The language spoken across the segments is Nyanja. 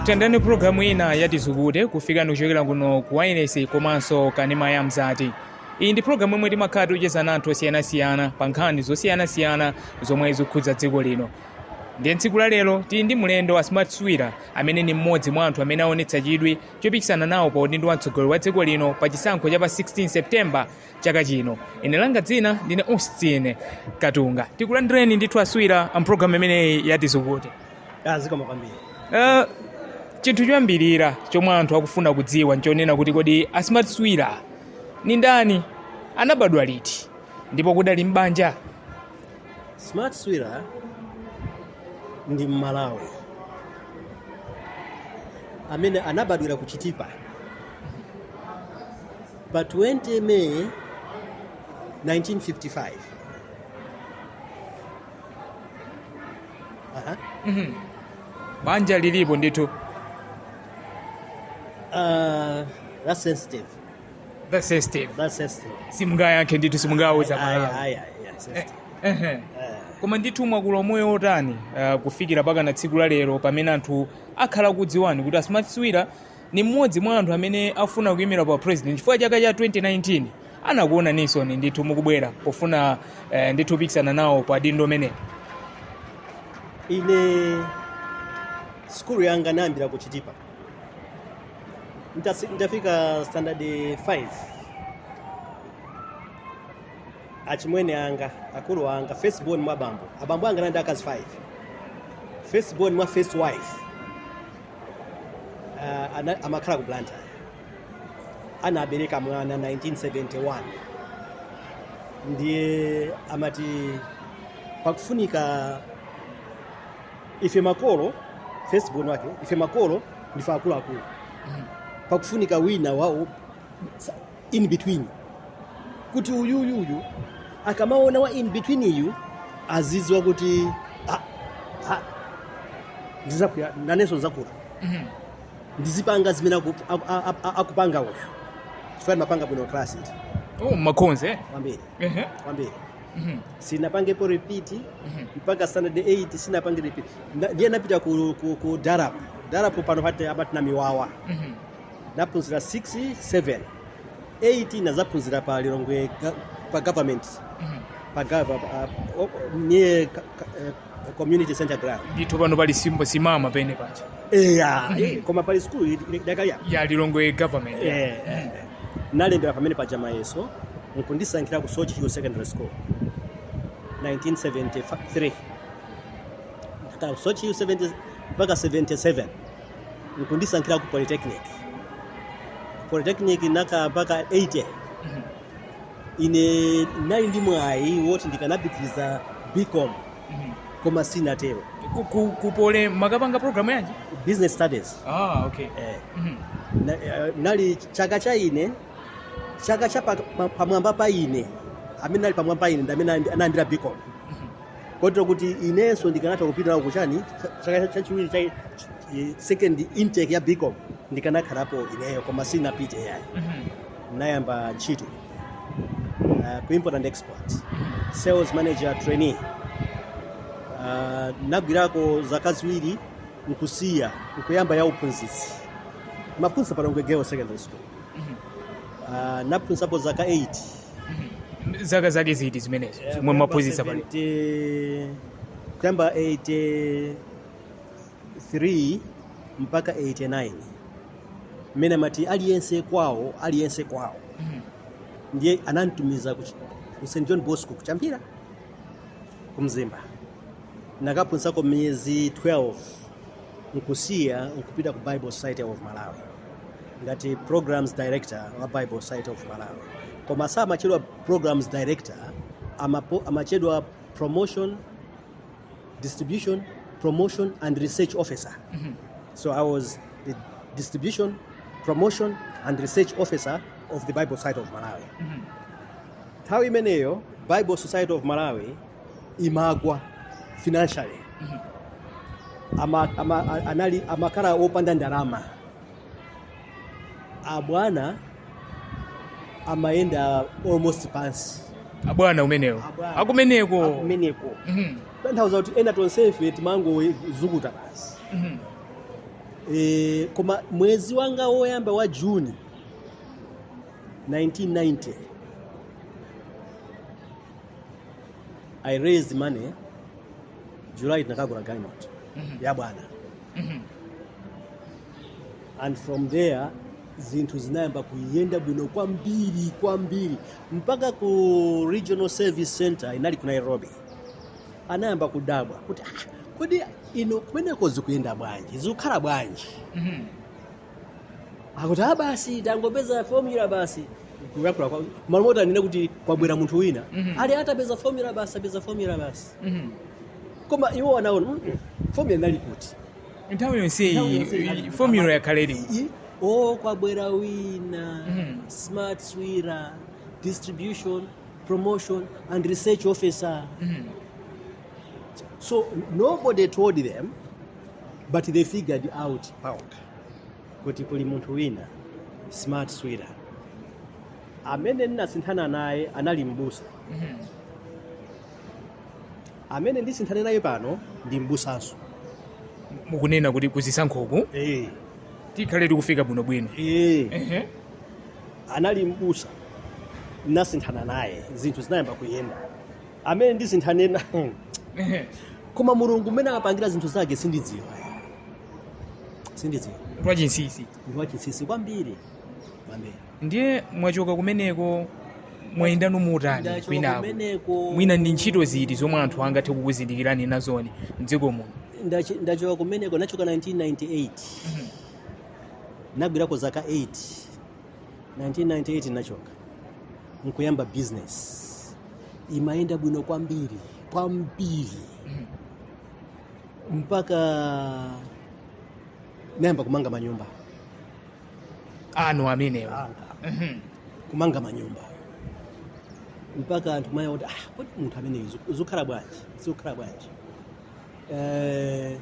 Tilandireni pulogalamu ina ya tizukute kufika nayo kuchokera kuno ku wailesi komanso kanema ya mzati iyi ndi pulogalamu yomwe timakhala tikucheza na anthu osiyanasiyana pa nkhani zosiyanasiyana zomwe zikukhudza dziko lino ndiye tsiku la lero tili ndi mlendo a smart swira amene ni mmodzi mwa anthu amene aonetsa chidwi chopikisana nawo pa udindo wa mtsogoleri wa dziko lino pa chisankho cha pa 16 septemba chaka chino ine langa dzina ndine austin katunga tikulandireni ndithu aswira mupulogalamu imeneyi ya tizukute zikomo kwambiri Eh, chinthu choyambirira chomwe anthu akufuna kudziwa nchonena kuti kodi asmart swira ni ndani anabadwa liti ndipo kodi ali m'banja smart swira ndi mmalawi amene anabadwira ku chitipa Pa 20 May 1955. Aha. Mhm. banja lilipo ndithu Uh, that's sensitive. the system That's sensitive. simungayankhe ndithu simungawuze Amalawi aye, aye, yeah, sensitive. Ehe. Eh, koma ndithu mwakula umoyo otani uh, kufikira pakana tsiku la lero pamene anthu akhala kudziwani kuti a smart swira Ni mmodzi mwa anthu amene akufuna kuyimira pa president chifukwa chaka cha 2019 anakuonaninso ndithu mukubwera pofuna eh, ndithu kupikisana nawo pa udindo umenewu ine sukulu yanga ndinayambira ku chitipa Nitasi- nitafika standard 5 achimwene anga akulu anga firstborn mwa bambo abambo anga anali ndi akazi 5 firstborn mwa first wife uh, ana- amakhala ku blantyre anabereka mwana 1971 ndiye amati pakufunika ife makolo firstborn wake ife makolo ndife akuluakulu pakufunika wina wawo in between kuti uyuyuyu akamaona wa in between yu azidziwa kuti ah, ah, ndizakula nanenso nzakula Mhm. ndizipanga zimene aku- aku- a- a- a- akupanga uyu chifukwa ndimapanga bwino klasi iti Oh, mumakhoza eh? kwambiri Ehe. kwambiri Mhm. sinapangepo repeat Mhm. mpaka standard 8 sinapange repeat Na- ndiye ndinapita ku, ku, ku darap darap pano pati amati Namiwawa Mhm. naphunzira 6 7 8 nazaphunzira pa lilongwe ga- pa government pa gava pa- o- o- near ka- ka- eh, community center ground ndithu pano pali simbo simama pene pacha eya eh, koma pali skulu idakaliya ya lilongwe government Eh, eh. nalembera pamene paja mayeso nkundisankhira ku soche hill secondary school 1973 Mpaka soche hill 70 mpaka 77 nkundisankhira ku polytechnic polytechnic naka mpaka 80 ine nali ndi mwayi woti ndikanapitiriza bcom koma sinatero Ku- ku- kupoly mumakapanga programu yanji business studies ah, okay. eh, Mhm. na, eh, nali chaka cha ine chaka cha pa- pa- pamwamba pa ine amene nali pamwamba pa ine ndi amene anayambira bcom kotero kuti inenso ndikanatha kupita nawo kuchani chaka chachiwiri cha eh, second intake ya bcom ndikanakhalapo ineyo koma sinapite yayi nayamba ntchito uh, ku import and export sales manager trainee uh, nagwirako zaka ziwiri nkusiya nkuyamba ya uphunzitsi naphunzitsa pa Lilongwe Girls secondary school uh, naphunzitsapo zaka 8 zaka zake ziti zimenezo zomwe mwaphunzitsa pano kuyamba 83 mpaka 89 mmene amati aliyense kwawo aliyense kwawo ndiye ananitumiza ku, ku st john bosco kuchamphira kumzimba nakaphunzitsako miyezi 12 nkusiya nkupita ku bible society of malawi ngati programs director wa bible society of malawi koma samatchedwa programs director amapo, amatchedwa promotion distribution promotion and research officer so i was the distribution promotion and research officer of the bible society of malawi nthawi imeneyo bible society of malawi imagwa financially ama, ama, a- anali amakhala opanda ndalama abwana amayenda almost pansi abwana umenewo Abwana. akumeneko akumeneko Mhm, tanthauza kuti ena tonsefe timangozukuta basi mhm. e, koma mwezi wanga woyamba wa June 1990 I raised money July tinakagula galimoto Mhm. ya bwana Mhm. and from there zinthu zinayamba kuyenda bwino kwambiri kwambiri mpaka ku regional service center inali ku nairobi anayamba kudabwa kuti "Ah, kodi inu kumeneko zikuyenda bwanji zikukhala bwanji Mhm. akuti a basi tangopeza formula basi Smart Swira anene kuti kwabwera munthu wina Mhm. ali atapeza formula basi apeza formula basi Mhm. koma iwo anaona "Mm, formula inali kuti nthawi yonse Nthawi iyi yonse iyi. formula yakhala ilipo I- o kwabwera wina Mhm. Smart Swira distribution promotion and research officer Mhm. so nobody told them but they figured out kuti kuli munthu wina Smart Swira amene ndinasinthana naye anali mbusa amene ndisinthane naye pano ndi mbusanso mukunena kuti kuchisankhoku eh tikhale tikufika bwinobwino eh Ehe. anali mbusa nasinthana naye zinthu zinayamba kuyenda amene ndisinthane naye koma mulungu mmene amapangira zinthu zake sindidziwa, sindidziwa. Munthu wachinsinsi. ndi wachinsinsi kwambiri kwambiri Ndiye mwachoka kumeneko mwayenda nkumatani Ndachoka kwinako. kumeneko- Mwina ndi ntchito ziti zomwe anthu angathe kukuzindikirani nazo mdziko muno. Ndachi- ndachoka kumeneko ndachoka 1998 nagwirako zaka 8 1998 ndinachoka nkuyamba business imayenda bwino kwambiri kwambiri mpaka nayamba kumanga manyumba anthu amenewa Mhm. kumanga manyumba mpaka anthu mayeka kuti ah, kodi munthu ameneyo zikukhala bwanji zikukhala bwanji Eh,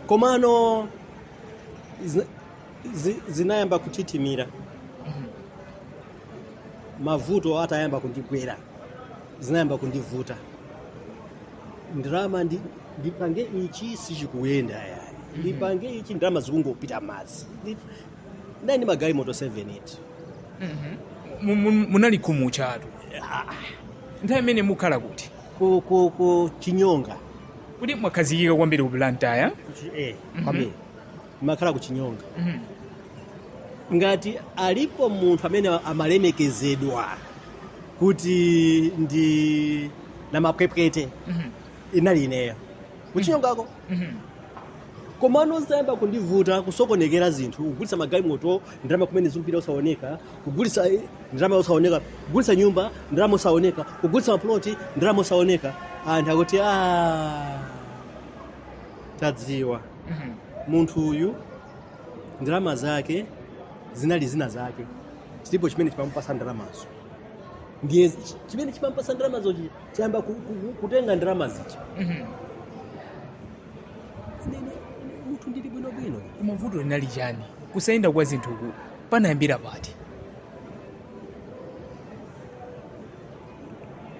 komano zina- zi- zinayamba kutitimira mavuto atayamba kundigwera zinayamba kundivuta ndalama ndi- ndipange ichi sichikuyenda yayi ndipange ichi ndalama zikungopita madzi Ndi- ndinali ndi magalimoto 7 eti Mu- mu- munali kumuchatu nthawi imeneyo mumakhala kuti ku, ku, ku Chinyonga kodi mwakhazikika kwambiri ku Blantyre Kuchi- eh, kwambiri ndimakhala ku Chinyonga Mhm. ngati alipo munthu amene amalemekezedwa kuti ndi namapwepwete Mhm. inali ineyo ku Chinyongako komano zitayamba kundivuta kusokonekera zinthu kugulitsa magalimoto ndalama kumene zikupita osaoneka kugulitsa eh, ndalama osaoneka kugulitsa nyumba ndalama osaoneka kugulitsa maploti ndalama osaoneka anthu akuti "Ah, tadziwa munthu uyu ndalama zake zinali zina zake chilipo chimene chimamupasa ndalamazo ndiye chimene chimamupasa ndalamazo chi- chayamba ku- ku- kutenga ndalama zija Mhm. Ine- ine- ine munthu ndili bwinobwino koma vuto linali chani kusayenda kwa zinthu uko panayambira pati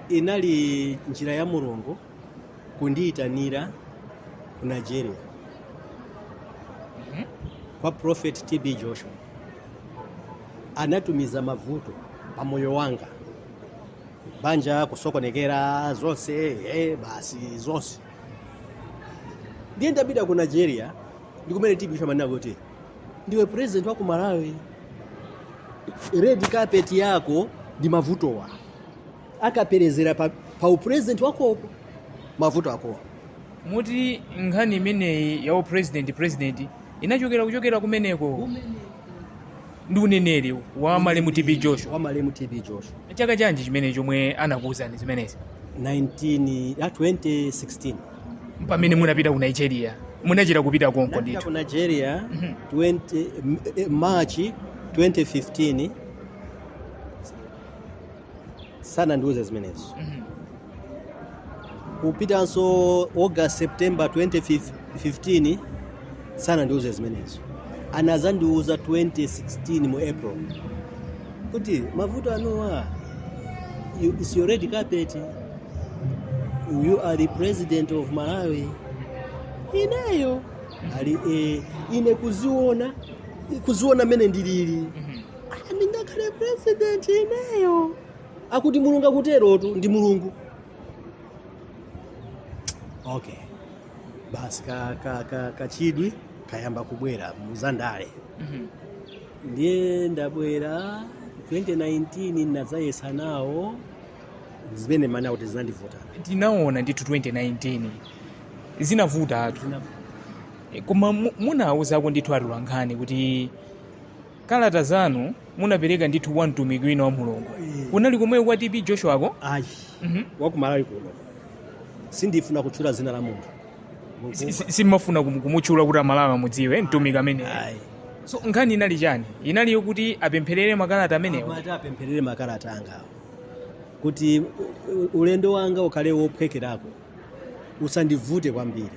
inali njira ya mulungu kundiyitanira ku nigeria Mhm. kwa prophet tb joshua anatumiza mavuto pa moyo wanga banja kusokonekera zonse eh, basi zonse ndiye ndapita ku nigeria ndi kumene tb amanena kuti ndiwe president wa ku malawi red carpet yako ndi mavutowa akaperekezera pa, pa upresident wakopo mavuto akowa moti nkhani imeneyi ya upresident president inachokera kuchokera kumeneko ndi uneneri wa malemu tb joshua wa malemu tb joshua chaka chanji chimene chomwe anakuwuzani zimenezi 19 eh, 2016 pamene munapita ku nigeria munachita kupita konko napita ndithu ku nigeria 20, m- eh, march 2015 sanandiuze zimenezo Mhm. kupitanso august september 2015 sanandiuze zimenezo anadzandiuza 2016 mu april kuti mavuto anuwa you- it's your red carpet you are the president of malawi ineyo ali eh, ine kuziona kuziona mmene ndilili Mhm. ndingakhale president ineyo akuti mulungu akuterotu ndi mulungu okay basi ka, ka, ka, kachidwi kanayamba kubwera muzandale Mhm. ndiye ndabwera 2019 ndinadzayesa nawo zimene mwanena kuti zinandivuta tinaona ndithu 2019 zinavutatu koma mu- munawuzako ndithu atula nkhani kuti kalata zanu munapereka ndithu kwa mtumiki wina wa mulungu kunali komwe kwa tb joshua ko ayi Mhm. wa ku malawi kuno sindifuna kutchula dzina la munthu Si- si- simukufuna kum- kumutchula kuti amalawi amudziwe mtumiki ameneyo ayi so nkhani inali chani inali yokuti apempherere makalata amenewo amati apempherere makalata angawo kuti u- u- ulendo wanga ukhale wophwekerako usandivute kwambiri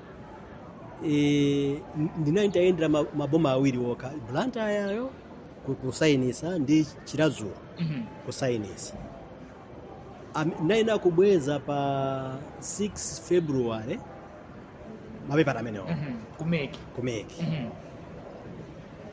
e, ndinali nditayendera ma- maboma awiri okha blantyre yo kusayinitsa ndi chiradzulo Mhm. kusayinitsa Am- ndinayenda kubweza pa 6 february mapepala amenewo Mhm. ku mec ku mec Mhm.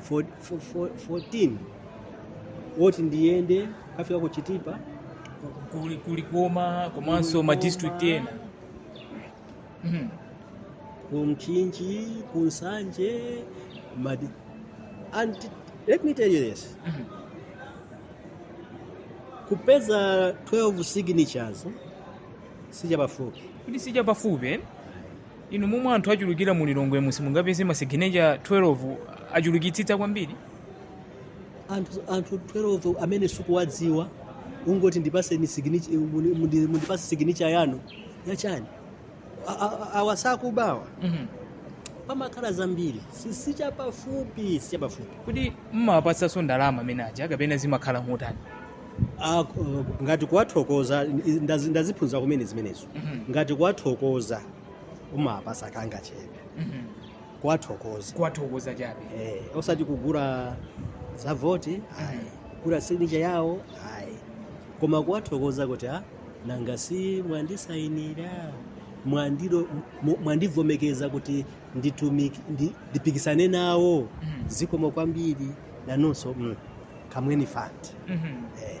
Fo- fo- fo- 14 woti ndiyende kukafika ku chitipa Kuli- kulikoma komanso ma district ena Mhm. ku mchinji ku nsanje ndithu and let me tell you this Mhm. kupeza 12 signatures sichapafupi kuti sichapafupi eh? inu momwe anthu achulukira mu lilongwe muno simungapeze masiginecha 12 achulukitsitsa kwambiri anthu anthu 12 amene sukuwadziwa ungoti ndipaseni signature mundi- mundi- mundipase signature yanu yachani A- a- awa sakubawa Mhm. pamakhala zambiri Si- si chapafupi si chapafupi kodi mmawapatsanso ndalama amene aja kapena zimakhala motani Ah, ku- ngati kuwathokoza ndazi- ndaziphunzira kumene zimenezo ngati kuwathokoza umawapasa kangachepe kuwathokoza kuwathokoza chabe eh, osati kugula mavoti ayi kugula signature yawo ayi koma kuwathokoza kuti a nanga si mwandisayinira mwandiro- mu- mwandivomekeza kuti nditumiki- ndi- ndipikisane nawo zikomo kwambiri nanonso mm, kamweni fanta Mhm. eh.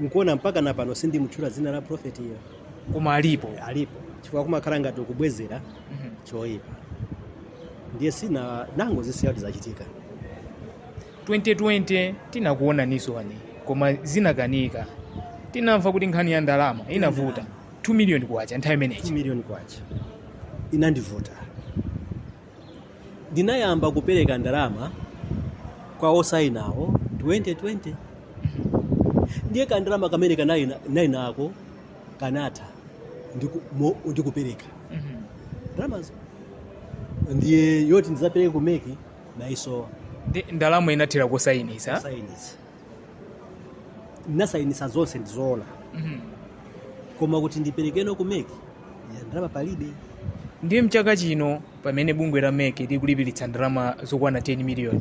nkuona mpaka na pano sindimutchula dzina la profetiyo koma alipo alipo chifukwa kumakhala ngati ukubwezera Mhm. choyipa ndiye si nanangozisiya kuti zachitika 2020 tinakuonaninsoni koma zinakanika tinamva kuti nkhani ya ndalama inavuta 2 million kwacha nthawi imeneyi 2 million kwacha inandivuta Ndinayamba kupereka ndalama kwa osainawo 2020 ndiye kandalama kamene kanali na- nali nako kanatha ndiku- mo- ndi kupereka ndalamazo ndiye yoti ndidzapereke ku mec nayisowa Ndi- ndalama inathera kusainisa sainisa ndinasayinisa zonse ndizoona Mhm. koma kuti ndiperekeno ku mec ndalama palibe ndiye mchaka chino pamene bungwe la mec likulipiritsa ndalama zokwana 10 miliyoni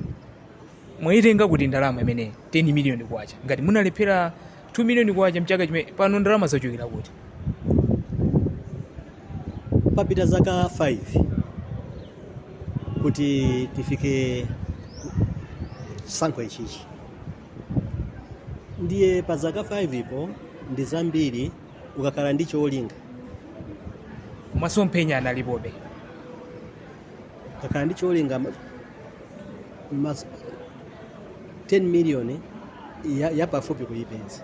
mwayitenga kuti ndalama imeneyi 10 miliyoni kwacha ngati munalephera 2 miliyoni kwacha mchaka chimenecho pano ndalama zachokera kuti papita zaka 5 kuti tifike chisankho ichichi ndiye pa zaka 5po ndi zambiri ukakhala ndi cholinga masomphenya analipobe kakhala ndi cholinga ma- mas- 10 miliyoni ya- yapafupi kuyipeza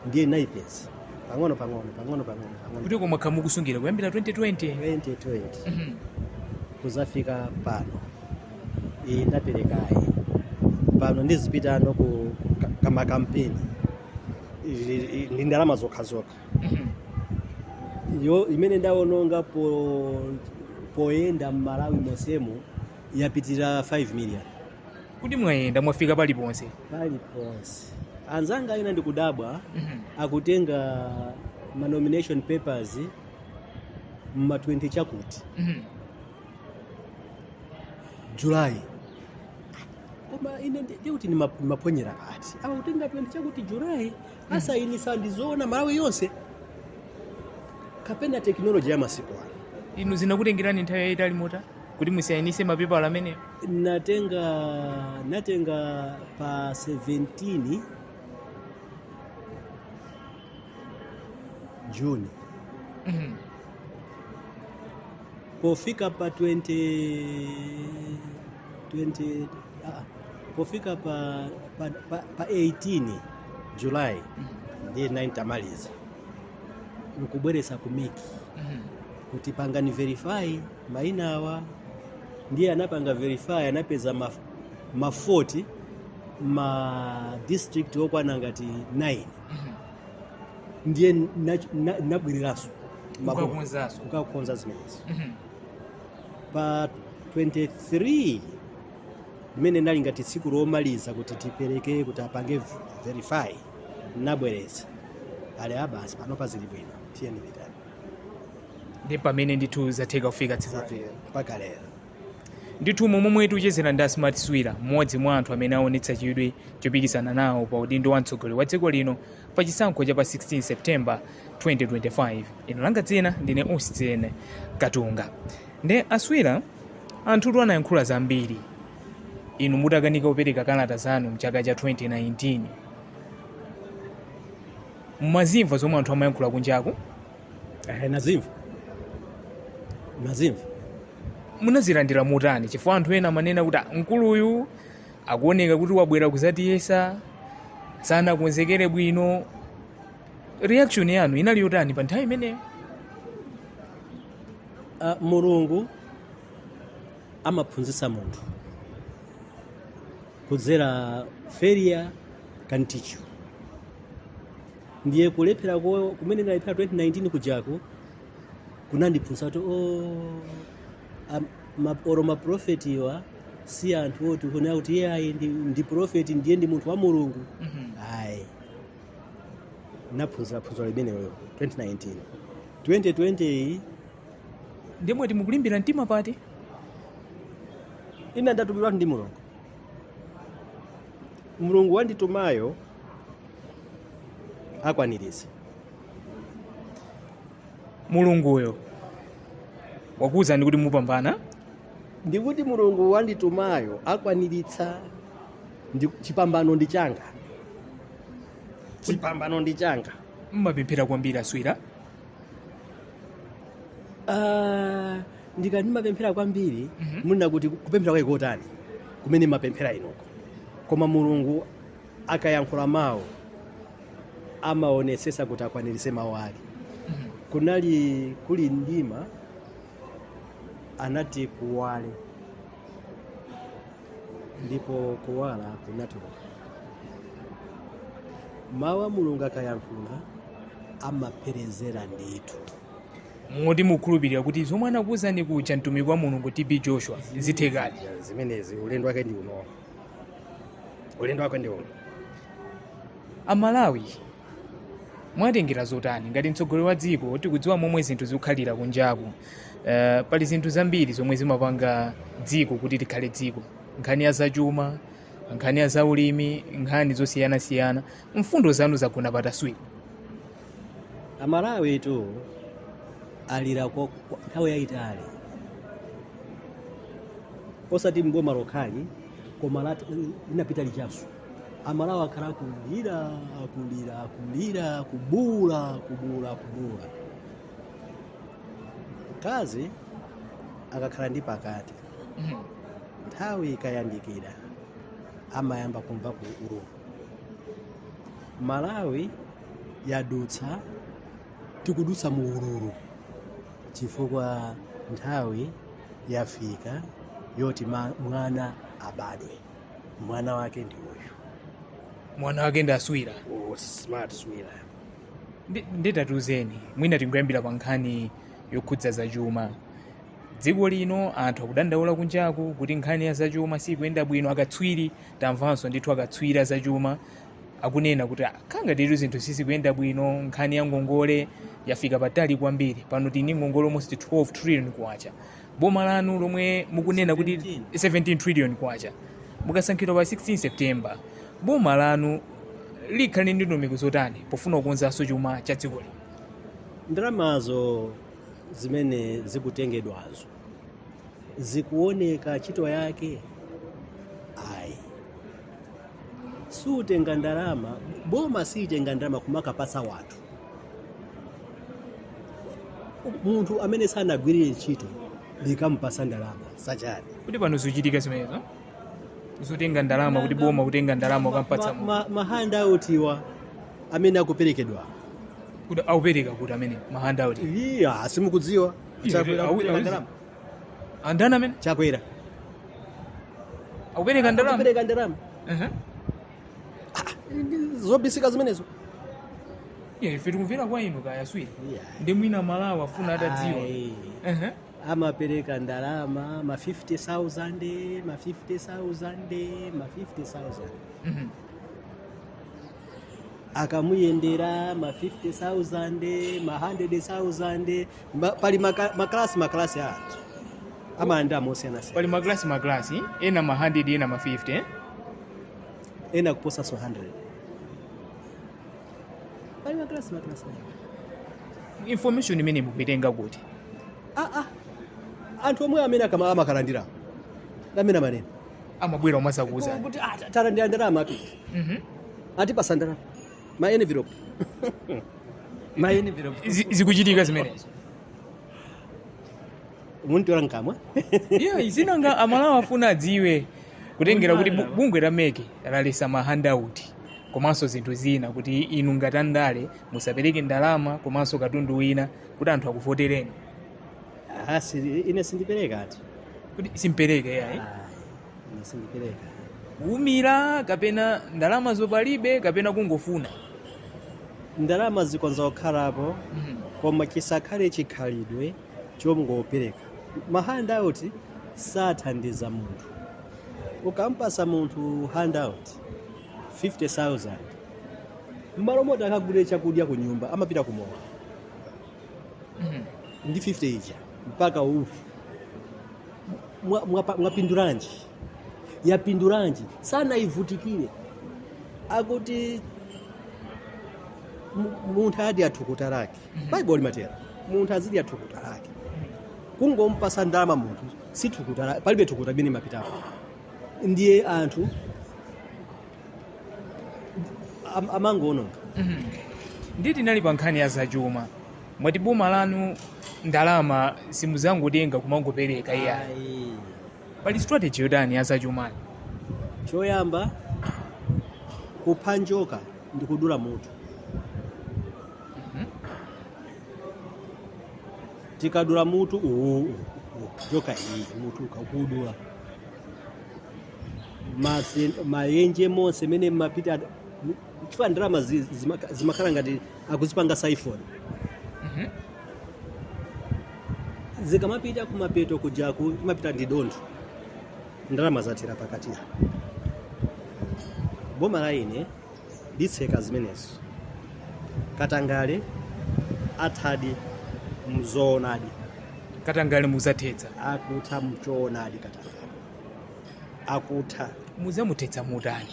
ndiye nayipeza pang'ono pang'ono pang'ono pang'ono pang'ono kuti ndikhoza kumasungira kuyambira 2020 2020 Mhm. kuzafika pano iyi ndaperekayi pano ndizipitanso ku ka- kamakampeni Izi- i- ndi ndalama zokhazokha yo imene ndawononga po poyenda m'malawi monsemu yapitirira 5 million kuti mwayenda mwafika paliponse paliponse anzanga ena ndikudabwa akutenga ma nomination papers mma 20 chakuti july koma ine ndi- ndikuti ndimaonera pati akutenga 20 chakuti july asainisa ndizoona malawi yonse kapena teknoloji ya masiku ano inu zinakutengerani nthawi yayitali motani kuti musayinise mapepala amenewo natenga natenga pa 17 juni Mhm. pofika pa 20 20, ah, pofika pa, pa, pa, pa 18 Julai ndiye nali ntamaliza nkubweresa ku meki kuti pangani verify maina awa ndiye anapanga verify anapeza ma, ma 40 ma district okwana ngati 9 ndiye nabwereranso kukakonzaso kukakonza zimenezo pa 23 limene nali ngati tsiku lomaliza kuti tipereke kuti apange verify nabweretsa ati a basi panopa zili bwino tiyeni pitani ndi pamene ndithu zatheka kufika tsiku la lero. mpaka lero ndithu momwemotu tikucheza ndi asmart swira mmodzi mwa anthu amene aonetsa chidwi chopikisana nawo pa udindo wa mtsogoleri wa dziko lino pa chisankho cha pa 16 september 2025 ino langa dzina ndine Austin Katunga nde aswira anthutu anayankhula zambiri inu mutakanika kupereka kalata zanu mchaka cha 2019 mumazimva zomwe anthu amayankhula kunjaku Eh, nazimva nazimva munazilandira motani chifukwa anthu ena amanena kuti "Ah, mkuluyu akuoneka kuti wabwera kuzatiyesa sanakonzekere bwino reaction yanu inali yotani pa nthawi imeneyo Ah, mulungu amaphunzitsa munthu kudzera failure kanthito ndiye kulephera ko- kumene ndinalephera 2019 kujaku kunandiphunzitsa kuti o am- ma- olo maprofetiwa si anthu oti kunena kuti iye ayi ndi, ndi profeti ndiye ndi munthu wa mulungu ayi ndaphunzira phunziro limenelo 2019 2020 iyi ndiye mwati mukulimbira mtima pati ine ndatumidwatu ndi mulungu mulungu wanditumayo akwaniritsa mulunguyo wakuwuzani kuti mupambana ndikuti mulungu wanditumayo akwaniritsa ndi chipambano ndi changa chipambano ndi changa mumapemphera kwambiri a Swira Ah, ndikati ndimapemphera kwambiri Mhm. munena kuti kupemphera kwake kotani kumene mumapemphera inuko koma mulungu akayankhula mawu amaonetsetsa kuti akwaniritse mawu ake kunali kuli mdima anati kuwale ndipo kuwala kunatuluka mawu a mulungu akayankhula amapherezetsa ndithu moti mukukhulupirira kuti zomwe anakuwuzani kuja mtumiki wa mulungu tb joshua zithekabe zimenezi ulendo wake ndi uno ulendo wake ndi uno amalawi mwatengera zotani ngati mtsogoleri wa dziko tikudziwa momwe zinthu zikukhalira kunjaku uh, pali zinthu zambiri zomwe zimapanga dziko kuti likhale dziko nkhani ya zachuma nkhani ya zaulimi nkhani zosiyanasiyana mfundo zanu zagona pati a Swira amalawitu alira kwa kwa nthawi yayitali osati boma lokhali koma lati- linapita lijanso amalawi akhala akulira akulira akulira akubuula akubuula akubuula mkazi akakhala ndi pakati nthawi ikayandikira amayamba kumva kuululu malawi yadutsa tikudutsa mu ululu chifukwa nthawi yafika yoti ma- mwana abadwe mwana wake ndi uyu mwana wake ndi a Swira Oh, Smart Swira Ndi- ndi tatiuzeni mwina tingoyambira pa nkhani yokhudza zachuma dziko lino anthu akudandaula kunjaku kuti nkhani ya zachuma sikuyenda bwino akatswiri tamvanso ndithu akatswiri a zachuma akunena kuti "Ah, ah ngatitu zinthu sizikuyenda bwino nkhani ya ngongole yafika patali kwambiri pano tili ndi ngongole almost 12 trillion kwacha boma lanu lomwe mukunena kuti 17 trillion kwacha mukasankhidwa pa 16 september boma lanu likhale ndi ndondomeko zotani pofuna kukonzanso chuma cha dziko lino ndalamazo zimene zikutengedwazo sizikuoneka ntchito yake ayi sutenga ndalama boma silitenga ndalama kumakapasa wanthu munthu amene sanagwirire ntchito ndikumupasa ndalama za chani kodi pano zikuchitika zimenezo zotenga ndalama kuti boma kutenga ndalama kukampatsa munthu Ma- ma- ma handout awa amene akuperekedwa kuti akupereka kuti amene ma handout iya a simukudziwa Iye, Chakwera awi- akupereka awi- ndalama. andani amenewo Chakwera akupereka ndalama Akupereka ndalama Ehe. zobisika zimenezo Yeah, ife tikumvera kwa inu kaya a Swira Yeah. ndi mwina Amalawi afuna atadziwa Ayi. Ehe. amapereka ndalama ma 50000 ma 50000 ma 50000 Mhm. akamuyendera ma 50000 ma 100000 ma- pali maka- makalasi makalasi a anthu amayandira mosiyanasiyana pali makalasi makalasi ena ma 100 ena ma 50 eh? ena kuposa 100 pali makalasi makalasi information imeneyi mukuitenga kuti ah, ah. anthu omwe amene akama- amakalandira amene amanena amabwera omwewo sakuuza kuti ah, ta- talandira ndalama atu Mhm. atipasa ndalama ma envelope ma envelope Zi- zikuchitika zimenezo munthu walira m'kamwa yeah, izi nanga Amalawi afuna adziwe kutengera kuti bu- bungwe la MEC laletsa ma handout komanso zinthu zina kuti inu ngati andale musapereke ndalama komanso katundu wina kuti anthu akuvotereni Ah, si- ine sindipereka ati kuti simpereke yayi Ah, ine sindipereka kuumira kapena ndalamazo palibe kapena kungofuna ndalama zikhoza kukhalapo koma chisakhale chikhalidwe chomngopereka mahandout sathandiza munthu ukampasa munthu handout 50000 mmalo moti akagule chakudya ku nyumba amapita ku mowa ndi 50 ija mpaka ufu Mwa- mwapa- mwapindulanji yapindulanji sanayivutikire akuti mu- munthu adye thukuta lake baibulo limatero munthu azidya thukuta lake kungompasa ndalama munthu si thukuta la- palibe thukuta limene imapitapo ndiye anthu am- amangoononga nde tinali pa nkhani ya zachuma mwati boma lanu ndalama simuzangotenga kumangopereka iyayi Ayi. pali strategy yotani ya zachumayi choyamba kupha njoka ndi kudula mutu tikadula mutu uwu njoka iyi mutu tikakudula Mase- maenje monse mmene imapita chifukwa ndalama zi- zimaka- zimakhala ngati akuzipanga siphon zikamapita kumapeto kujaku imapita ndi dontho ndalama zathera pakati boma la ine litseka zimenezo katangale athadi mzoonadi katangale muzathetsa akutha mchoonadi katangale akutha muzamuthetsa motani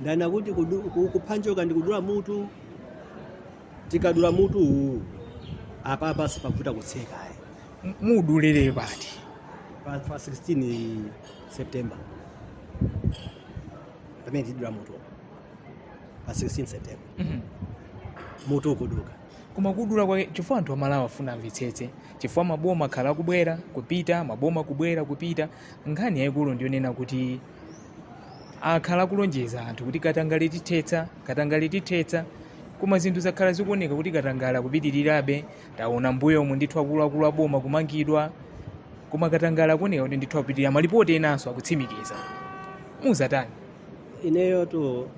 ndanena kuti kudu- ku- kupha njoka ndi kudula mutu tikadula mutu uwu apa pansi pavuta kutseka ayi M- mudulira pati pa, pa 16 september pomwe tidule mutu pa 16 september Mhm. mutu ukuduka koma kudula kwake chifukwa anthu amalawi afuna amvetsetse chifukwa maboma akhala akubwera kupita maboma kubwera kupita nkhani yayikulu ndiyonena kuti akhala akulonjeza anthu kuti katangale tithetsa katangale tithetsa koma zinthu zakhala zikuoneka kuti katangale akupitirirabe taona mbuyomu ndithu akuluakulu aboma kumangidwa koma katangale akuoneka kuti ndithu apitirira malipoti enanso akutsimikiza muzatani ineyotu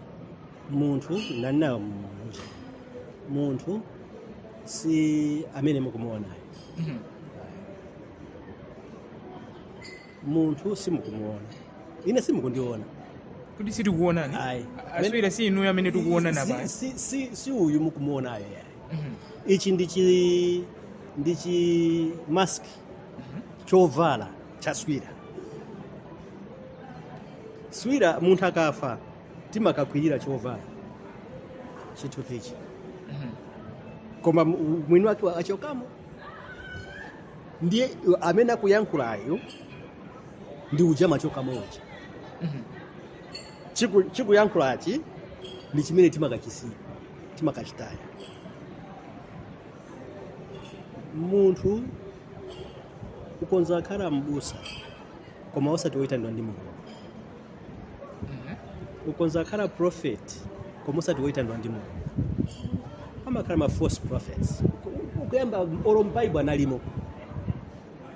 munthu nanena muja munthu si amene mukumuonayo munthu simukumuona ine simukundiona kuti sitikuonani ayi a swira si inuyo amene tikuonana Si- pano si- si- si uyu mukumuonayo yayi Mhm. ichi ndichi ndichi mask chovala cha swira swira munthu akafa timakakwirira chovala chithupichi Mhm. koma mu- mwini wake wachokamo ndiye amene akuyankhulayo ndi uja amachoka muja chikuyankhulachi ndi chimene timakachisi timakachitaya munthu akhoza akhala mbusa koma osati woyitanidwa ndi mulungu akhoza akhala prophet koma osati woyitanidwa ndi mulungu pamakhala ma false prophets kuyamba olo m'baibulo analimo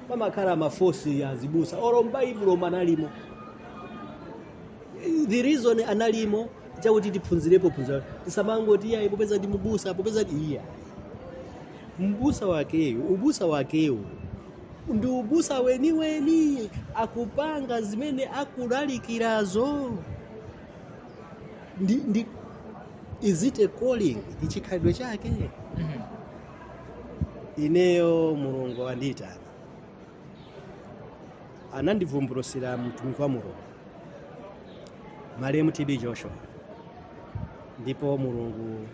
pamakhala ma false abusa olo m'baibulomo analimo the reason analimo nchakuti tiphunzirepo phunzira tisamangoti iyayi popeza ndi m'busa popeza ndi iyayi mbusa wakeyo ubusa wakewo ndi ubusa weniweni akupanga zimene akulalikirazo ndi, ndi is it a calling ndi chikhalidwe chake Mhm. ineyo mulungu anandiyitana anandivumbulutsira mtumiki wa mulungu malemu tb joshua ndipo mulungu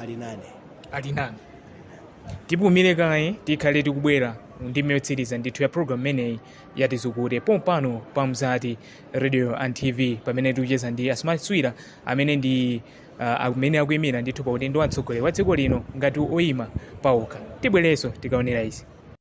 ali nane ali nane Tipumire kaye tikhale tikubwera ndime yotsiriza ndithu ya pologalamu imeneyi ya tizukute pompano pa mzati radio and tv pamene tikucheza ndi asmart swira amene ndi uh, amene akuyimira ndithu pa udindo wa mtsogoleri wa dziko lino ngati oyima paokha tibwerenso tikaonera izi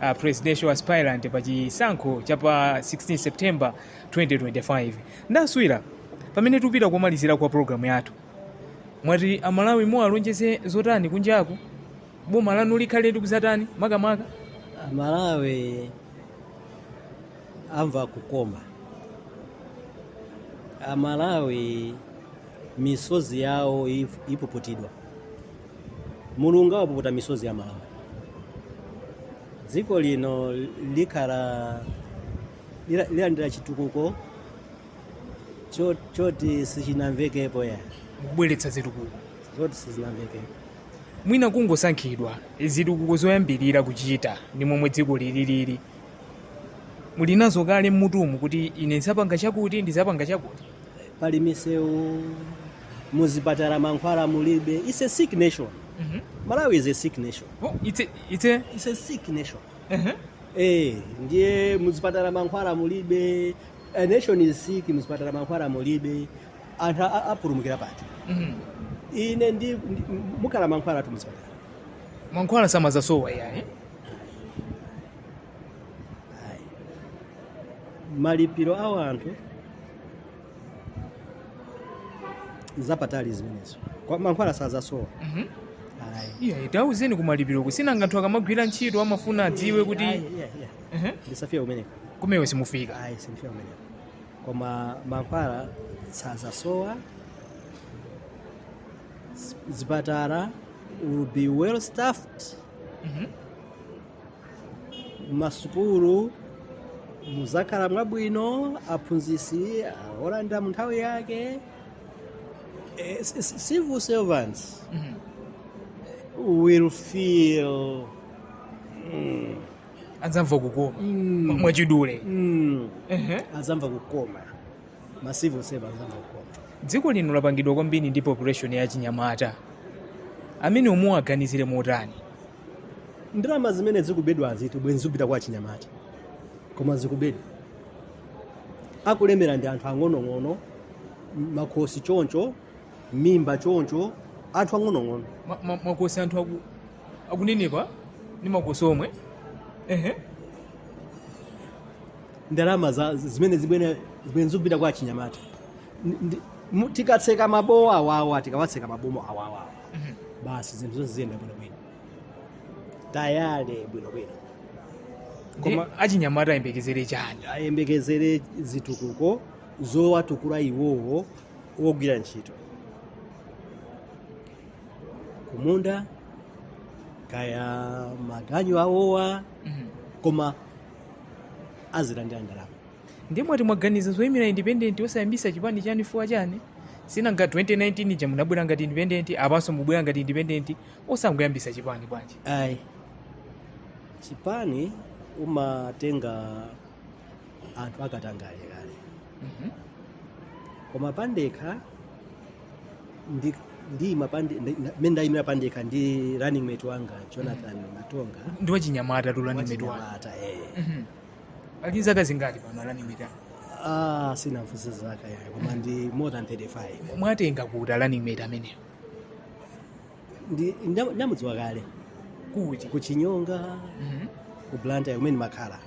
a presidential aspirant pa chisankho cha pa 16 september 2025 a swira pamene tikupita kumalizira kwa pologalamu yathu mwati amalawi muwalonjeza zotani kunjaku boma lanu likhale likudzatani makamaka amalawi amva kukoma amalawi misozi yawo if- ipuputidwa Mulungu awapuputa misozi ya amalawi. Dziko lino likhala lila- lilandira chitukuko cho- choti sichinamvekepo ya mukubweretsa zitukuko choti sizinamvekepo. mwina kungosankhidwa zitukuko zoyambirira kuchita ndi momwe dziko lililili muli nazo kale mmutumu kuti ine ndidzapanga chakuti ndidzapanga chakuti pali misewu muzipatala mankhwala mulibe its a sick nation Mhm. malawi is a sick nation Oh, it's a, it's a, its a sick nation uh-huh. Eh, ndiye muzipatala mankhwala mulibe a nation is sick muzipatala mankhwala mulibe anthu a- a- apulumukira pati Mhm. ine ndi ndi- mukhala mankhwalatu muzipatala mankhwala samadzasowa yayi Ayi. malipiro a anthu zipatala zimenezo Kwa- mankhwala sazasowa Mhm. Ayi. iye tiuzeni kumalipiro sinanga anthu akamagwira ntchito amafuna adziwe kuti Ayi, yeah, yeah. Mhm. ndisafika kumeneko kumeneko simufika ayi sindifika kumeneko koma mankhwala sazasowa zipatala will be well staffed Mhm. masukulu muzakhala mwabwino aphunzitsi olandira mu nthawi yake eh, c- c- civil servants will feel mm, adzamva kukoma Mm. mwachidule mm, Ehe. azamva kukoma ma civil servants azamva kukoma dziko lino lapangidwa kwambiri ndi population ya chinyamata amenewo muwaganizira motani ndalama zimene zikubedwazitu bwenzi zikupita kwa achinyamata koma zikubedwa akulemera ndi anthu ang'onong'ono makhosi choncho mimba choncho anthu ang'onong'ono Ma- ma- makosi anthu aku- akunenepa ndi makhosi omwe ehe ndalama zimenezi bwenzi zikupita kwa achinyamata Ndi- ndi- mu- tikatseka mabowo awawa tikawatseka mabowo awawa basi zinthu zonse ziyenda bwinobwino tayale bwinobwino koma achinyamata ayembekezere chani ayembekezere zitukuko zowatukula iwowo wokagwira ntchito kumunda kaya maganyu awoawo koma azilandira ndalama ndiye mwati mwaganiza zoyimira independent osayambisa chipani chanu chifukwa chani sinanga 2019 ija munabwera ngati independent apanso mubwera ngati independent osangoyambisa chipani bwanji ayi chipani umatenga anthu akatangale kale Mhm. koma pandekha ndi ndiyima pande ndi- ndi- mmene ndayimira pandekha ndi running mate wanga jonathan matonga ndi wachinyamata running mate wake wachinyamata eh Mhm. ali ndi zaka zingati pano running mate ah sinamfunse zaka ya koma ndi more than 35 mwatenga kuti running mate ameneyo ndi ndam- ndamudziwa kale kuti ku chinyonga Mhm. ku blantyre kumene amakhala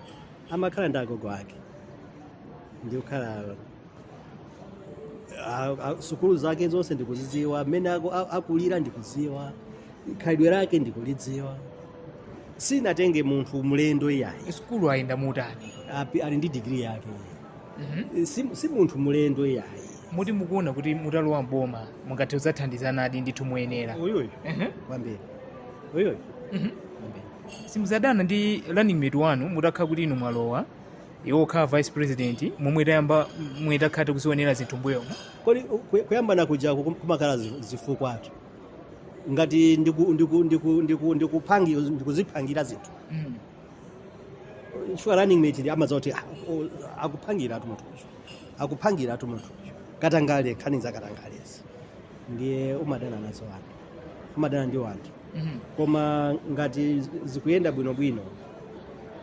amakhala ndi agogo ake ndi kukhala A- a- sukulu zake zonse ndikuzidziwa mmene aku- a- akulira ndikudziwa khalidwe lake ndikulidziwa sinatenge munthu mlendo iyayi sukulu ayenda motani Api- ali ndi digiri yake Mhm. si, si munthu mlendo iyayi muti mukuona kuti mutalowa mboma mungathe kudzathandizana ndithu muyenera uyuyu Mhm. kwambiri uyuyu Mhm. kwambiri simuzadana ndi running mate wanu mutakhala kuti inu mwalowa iwo okhala vice president momwe tayamba momwe takhala tikuzionera zinthu mbuyomo kodi ku- kuyambana kuja ku- kumakhala zi- zifukwatu ngati ndiku- ndiku- ndiku- ndiku- ndikupangi- ndikuzipangira zinthu mm. chifukwa running mate ndi amene amadziwa kuti ah, o- akupangira atu munthu uyu akupangira atu munthu uyu katangale nkhani za katangalezi ndiye amadana nazo anthu amadana ndi anthu koma ngati zikuyenda bwinobwino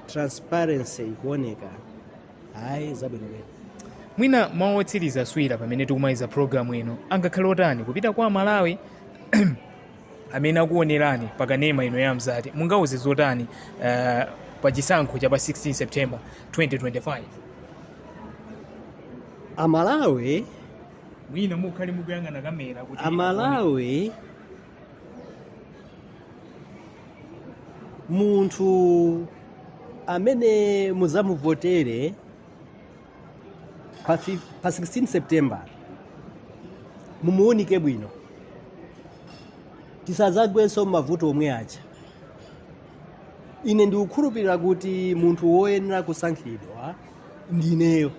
transparency ikuoneka ayi zabwinobwino mwina mawu otsiriza a swira pamene tikumaliza programu ino angakhale otani kupita kwa amalawi amene akuonerani pa kanema ino ya mzati mungauze zotani uh, pa chisankho cha pa 16 september 2025 amalawi mwina mukhale mukuyang'ana kamera kuti amalawi munthu amene muzamuvotere pa, fif- pa 16 september mumuunike bwino tisazagwenso m'mavuto omwe aja ine ndikukhulupirira kuti munthu woyenera kusankhidwa ndineyo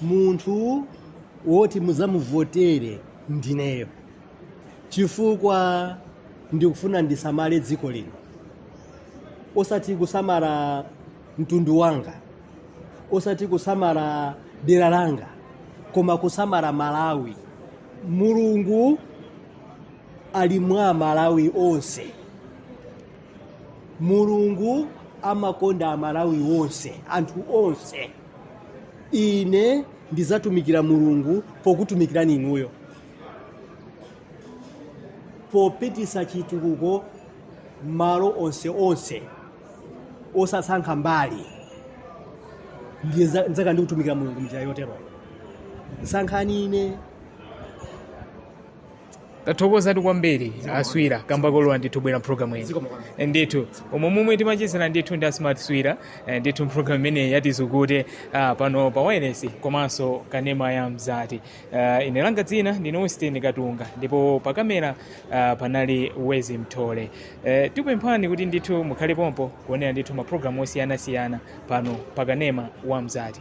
munthu woti muzamuvotere ndineyo chifukwa ndikufuna ndisamale dziko lino osati kusamala mtundu wanga osati kusamala dera langa koma kusamala malawi mulungu ali mwa amalawi onse mulungu amakonda amalawi onse anthu onse ine ndidzatumikira mulungu pokutumikirani inuyo popitisa chitukuko malo onse onse osasankha mbali ndiye nizakhala ndikutumikira mulungu mnjira yoteroyo sankhani ine tathokozatu kwambiri aswira kamba kolowa ndithu kubwera mpulogalamu ino ndithu umo momwe timachezera ndithu ndi asmart swira eh, ndithu mpulogalamu imeneyi yatizukute ah, pano pa wailesi komanso kanema ya mzati Ah, ine langa dzina ndine austin katunga ndipo pa kamera ah, panali wezi mthore Eh, tikupemphani kuti ndithu mukhale pompo kuonera ndithu mapulogalamu osiyanasiyana pano pa kanema wa mzati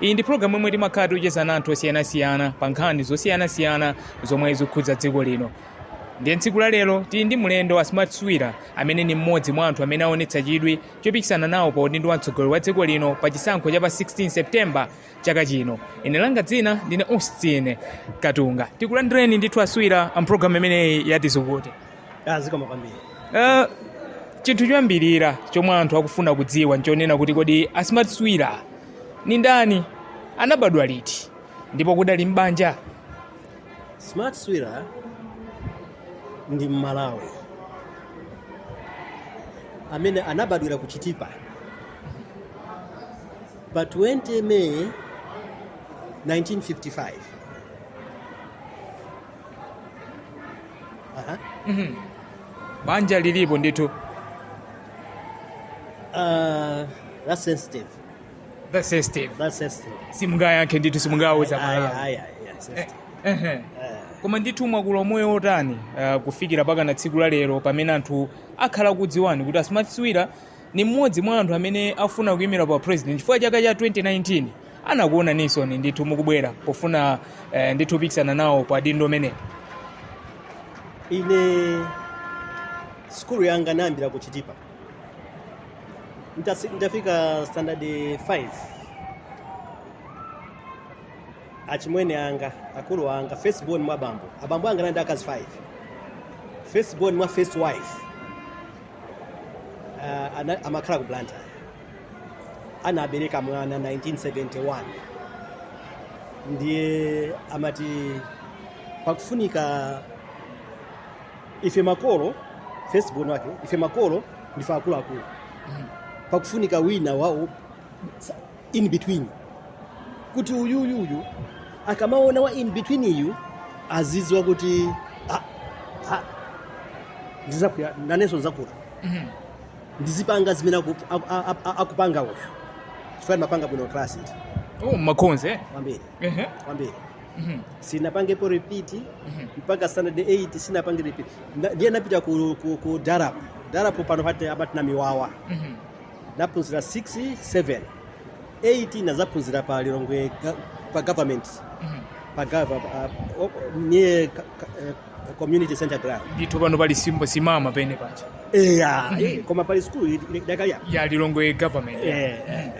Iyi ndi program yomwe timakhala tikucheza na anthu osiyanasiyana pa nkhani zosiyanasiyana zomwe zikukhudza dziko lino ndiye tsiku la lero tili ndi mlendo a Smart Swira amene ni mmodzi mwa anthu amene aonetsa chidwi chopikisana nawo pa udindo wa mtsogoleri wa dziko lino pa chisankho cha pa 16 September chaka chino ine langa dzina ndine Austin Katunga tikulandireni ndithu aswira mu program imeneyi yatizukute Ah, zikomo kwambiri Eh, chinthu choyambirira chomwe anthu akufuna kudziwa nchonena kuti kodi a Smart Swira ni ndani anabadwa liti ndipo kudali m'banja Smart Swira ndi mmalawi amene anabadwira ku chitipa pa 20 may 1955 Aha. Mhm. banja lilipo ndithu Uh, that's sensitive. the system That's sensitive. simungayankhe ndithu simungawawuze Amalawi ayi, ayi, yeah, sensitive. Ehe. Eh, koma ndithu mwakula moyo otani uh, kufikira pakana tsiku la lero pamene anthu akhala kudziwani kuti a Smart Swira Ndi mmodzi mwa anthu amene akufuna kuyimira pa president chifukwa chaka cha 2019 anakuonaninsoni ndithu mukubwera pofuna eh, ndithu kupikisana nawo pa udindo umenewu ine sukulu yanga nayambira ku chitipa Nitasi- nitafika standard 5 achimwene anga akulu anga firstborn mwa bambo abambo anga anali ndi akazi 5 firstborn mwa first wife uh, ana- amakhala ku blantyre anabereka mwana 1971 ndiye amati pakufunika ife makolo firstborn wake ife makolo ndife akuluakulu pakufunika wina wa in between kuti uyuyuyu akamaona wa in between yu azidziwa kuti ah, ah, ndizakuya nanenso ndizakula ndizipanga zimene aku- aku- a- a- a- akupanga uyu chifukwa ndimapanga bwino klasi eti oh, mumakhoza eh? kwambiri Ehe. kwambiri Mhm. sinapangepo repeat Mhm. mpaka standard 8 sinapange repeat Na- ndiye napita ku, ku, ku Dharap Dharap pano pate pa Namiwawa Mhm. naphunzira 6 7 8 nazaphunzira pa lilongwe ga- pa government pa gava pa- o- o- near ka- ka- eh, community centre ground ndithu pano pali simbo simama pene paja eya eh, koma pali school idakalipo ya lilongwe government ya. Eh, eh.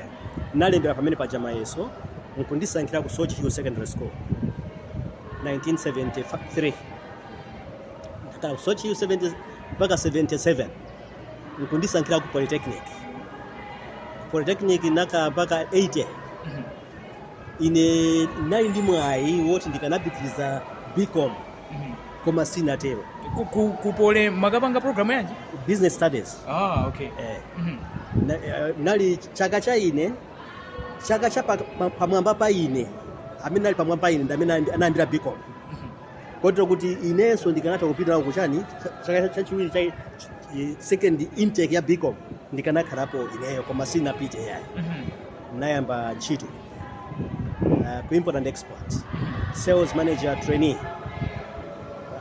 nalembera pamene paja mayeso nkundisankhira ku soche hill secondary school 1973 ndakhala ku soche hill 73 mpaka 77 nkundisankhira ku polytechnic polytechnic nakhala mpaka 80 ine ndinali ndi mwayi woti ndikanapitiriza bcom koma sinatero Ku- ku- kupoly mumakapanga programu yanji business studies ah, okay. eh, Mhm. na- eh, nali chaka cha ine chaka cha pa- pa- pamwamba pa ine amene ali pamwamba pa ine ndi amene anandi- analandira bcom kotero kuti inenso ndikanatha kupitira kuchani chaka chachiwiri cha eh, second intake ya bcom ndikanakhalapo ineyo koma sinapite yayi ndinayamba ntchito uh, ku import and export sales manager trainee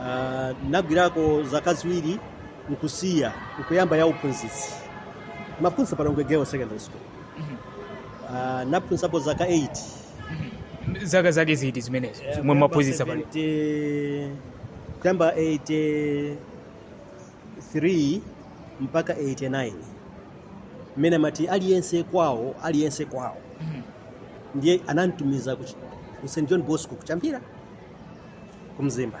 uh, ndinagwirako zaka ziwiri nkusiya nkuyamba ya uphunzitsi ndinaphunzitsa pa Lilongwe girls secondary school uh, ndinaphunzitsapo zaka 8 zaka zake ziti zimenezo zomwe mwaphunzitsa pano kuyamba 83 mpaka 89 mmene amati aliyense kwawo aliyense kwawo ndiye ananitumiza ku ku st john bosco ku Champhira ku Mzimba